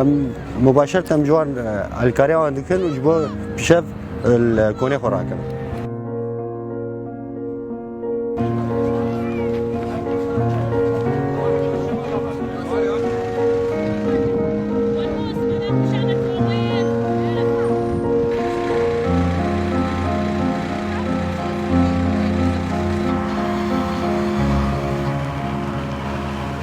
Em mubaşer tem ji wan alîkariya wan dikin û ji bo pişev li konê xwe rakin.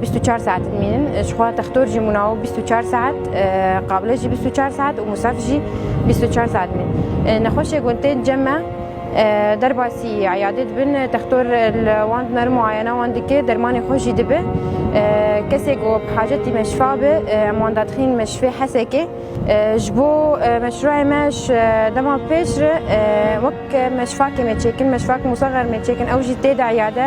Bîst û çar saet dimînin. Ji xwe textor jî mûnawo bîst û çar saet, qabile jî bîst û çar saet û musaf jî bîst û çar saet dimînin. Nexweşê ku tên cem me derbasî eyadê dibin, textor li wan dimerin muayena wan dike, dermanê xwe jî dibe. Kesê ku bi hacetî meşifa be em wan dadixînin meşifê hesekê. Ji bo meşrûeyê me ji dema pêş re wek meşifakê mêçêkin, meşifak Mûsa Xermêçêkin ew jî tê de eyade.